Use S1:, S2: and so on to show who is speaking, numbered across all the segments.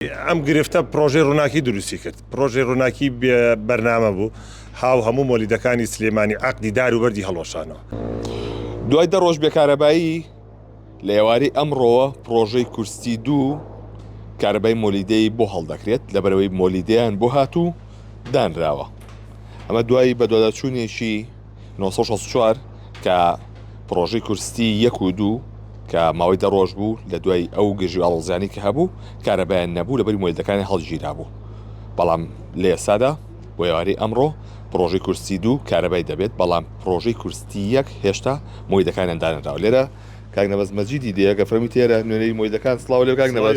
S1: ئەم گرفتە پرۆژەی ڕووناکی دروستی کرد. پرۆژەی ڕووناکی بێ بەرنامە بوو. ها و هەموو مۆلیدەکانی سلێمانی عەقدی دار و بەردی هەڵوەشانەوە. دوای
S2: دە ڕۆژ بێکارەبایی، لە ئێوارەی ئەمڕۆوە پرۆژەی کورستی دوو کارەبای مۆلیدەی بۆ هەڵدەکرێت، لەبەرئەوەی مۆلیدەیان بۆ هاتوو دانراوە. ئەمە دوای بەدواداچوونێکی. نۆ سەد و شەست و چوار کە پڕۆژەی کورستی یەک و دوو کە ماوەی دە ڕۆژ بوو لە دوای ئەو گرژی ئاڵۆزیانی کە هەبوو کارەبایان نەبوو لەبەری مۆیلەکانی هەڵگیرا بوو بەڵام لە ئێستادا بۆ یاری ئەمڕۆ پرۆژی کورسی دوو کارەبای دەبێت بەڵام پرۆژی کورستی یەک هێشتا مۆی دەکانیان دانراوە لێرە کاک نەبەز مەجیدی دەیەکە فرەمی تێرە نوێنەری مۆیدەکان سڵاو لێ کاک نەبەز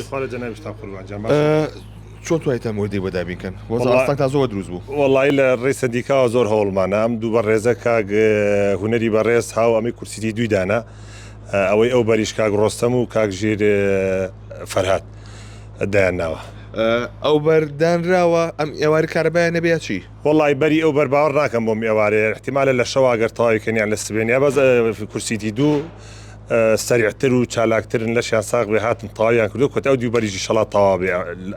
S2: چۆن توانیتان مۆدێک بۆ دابین کەن؟ وەزع وەڵا- ئاستەنگتان زۆر دروست بوو. وەڵایی لە ڕێی
S1: سەندیکاوە زۆر هەوڵمانە ئەم دوو بەڕێزە کاک اه، هونەری بەڕێز هاو ئەمەی کورسیی دووی دانا اه، ئەوەی ئەو بەریش کاک ڕۆستەم و کاک ژیر اه، فەرهاد دایان ناوە اه، ئەو
S2: بەر دانراوە ئەم ئێواری کارەبایان نەبێ یا چی؟ وەڵایی بەری ئەو بەر
S1: باوەڕ ناکەم بۆم ئێوارەیە ئیحتیمالە لە شەوا گەر تەواوی کەن یان لە سبەینێ بەس اه، کورسیی دوو سەریعتر و چالاکترن لەشیان ساغ بێ هاتن تەواویان کردوە کۆتای ئەو دوو بەریش ئیشەڵا تەواو بێ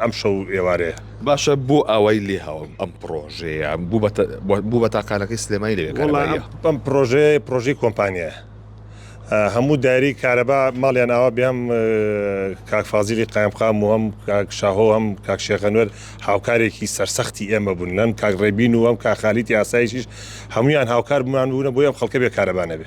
S1: ئەم شەو و ئێوارەیە. باشە بۆ
S2: ئاوای لێ هاوم ئەم پڕۆژەیە بوو بە تاقانەکەی سلێمانی لەوێ کارەباییە؟ وەڵا ئەم پڕۆژەیە
S1: پڕۆژەی کۆمپانیایە هەموو دایرەی کارەبا ماڵیان ئاوا بێ هەم کاک فازیلی قایمقام و هەم کاک شاهۆ و هەم کاک شێخ ئەنوەر هاوکارێکی سەرسەختی ئێمە بوون هەم کاک ڕێبین و هەم کاک خالید یاساییش هەموویان هاوکار بوومان بوونە بۆی ئەم خەڵکە بێ کارەبا نەبێ.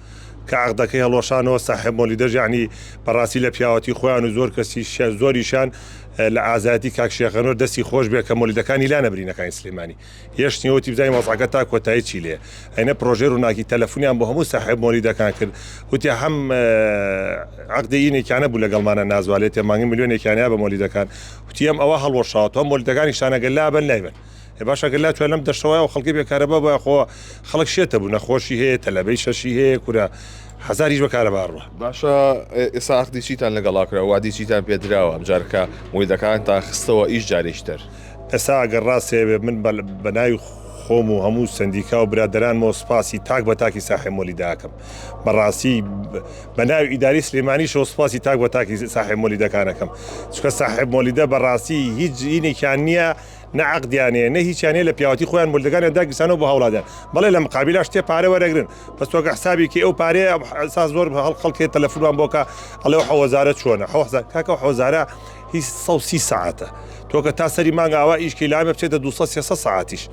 S1: کە عەقدەکەی هەڵوەشانەوە ساحێب مۆلیدەش یەعنی بەڕاستی لە پیاوەتی خۆیان و زۆر کەسیشیان زۆریشیان لە ئازایەتی کاک شێخ ئەنوەر دەستی خۆش بێ کە مۆلیدەکانی لا نەبرینەکانی سلێمانی هێشتنی وتی بزانین وەزعەکە تا کۆتایی چی لێ ئەینە پرۆژەی ڕووناکی تەلەفونیان بۆ هەموو ساحێب مۆلیدەکان کرد وتی هەم عەقدی ئینێکیانە بوو لەگەڵمانە نازوا لێ تێمانگی ملیۆنێکیانیا بە مۆلیدەکان وتی ئەم ئەوە هەڵوەشاوە تۆ مۆلیدەکانی شانەگە لابن لای من ئێ باشە گەر لاتویان لەم دەشتە وایە خەڵکی بێ کارەبا بە خۆ خەڵک شێتە بوو نەخۆشی هەیە تەلەبەی شەشی هەیە کورە هزاریش بە کارەبا ڕوە باشە ئێسا
S2: عقدی چیتان لەگەڵا کرا وادی چیتان پێ دراوە ئەمجارکە مۆیدەکان تا خستەوە ئیش جارێکی تر ئێسا ئەگەر
S1: ڕاستێ من بەناوی خۆم و هەموو سندیکا و برادرانمەوە سپاسی تاک بە تاکی ساحێ مۆلی داکەم بەڕاستی بەناوی ئیداری سلێمانیشەوە سپاسی تاک بە تاکی ساحێ مۆلیدەکانەکەم چکە ساحێب مۆلیدە بەڕاستی هیچ جینێکیان نییە نە عەقدیان هەیە نە هیچیان هەیە لە پیاوەتی خۆیان مولدەکانیان داگیرسانەوە بۆ هاوڵاتیان بەڵێ لە مقابیلاش تێ پارە وەرەگرن بەس تۆ کە حسابی کەی ئەو پارەیە ئەسا زۆر بە هەڵ خەڵکێ تەلەفونمان بۆ کە ئەڵێ ئەو حەوەزارە چۆنە حەوە حساب کاکە ئەو حەوەزارە هی سەد و سی سەعاتە تۆ کە تا سەری مانگا ئاوا ئیش کەی لامێ بچێتە دوو سەد سێ سەد سەعاتیش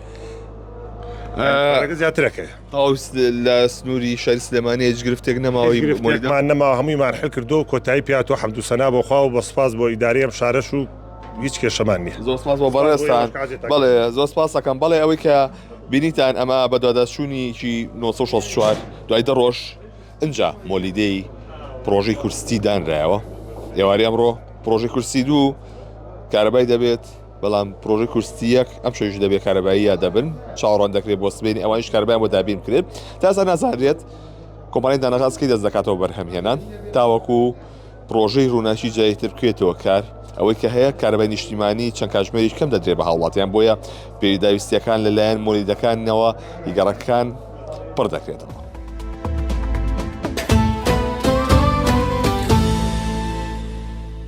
S1: پارەکە زیاترەکەی ئەو س- لە
S2: سنووری شاری سلێمانی هیچ گرفتێک نەماوە هیچ گرفتێکمان نەما
S1: هەموویمان حل کردو کۆتایی پیاتەوە حەمدوسەنا بۆخوا و بە سوپاس بۆ ئیدارەی ئەم شارەش و هیچ کێشەمان نیە زۆر سپاس بۆ بەڕێزتان
S2: بەڵێ زۆر سپاسەکەم بەڵێ ئەوەی کە بینیتان ئەمە بە دوواداچوونیکی 1964 دوای دە ڕۆژ ئەجا مۆلیدەی پرۆژەی کورستی دانرایەوە ئێواری ئەمڕۆ پرۆژەی کورسی دوو کارەبای دەبێت بەڵام پرۆژی کورسیەک ئەم شەویش دەبێت کارەبایی یا دەبن چاوەڕان دەکرێت بۆ سبێنی ئەوانش کاربیان بۆ دابین کرێت تاسا نازانرێت کۆمپانی دانەغازکی دەست دەکاتەوە بەرهەمهێنان تاوەکو پڕۆژەی ڕووناکی جاری تر بکرێتەوە کار، ئەوەی کە هەیە کارەبای نیشتیمانی چەند کاتژمێریش کەم دەدرێت بە هاوڵاتیان، بۆیە پێداویستییەکان لەلایەن مۆلیدەکانەوە ی گەڕەکەکان پڕ دەکرێتەوە.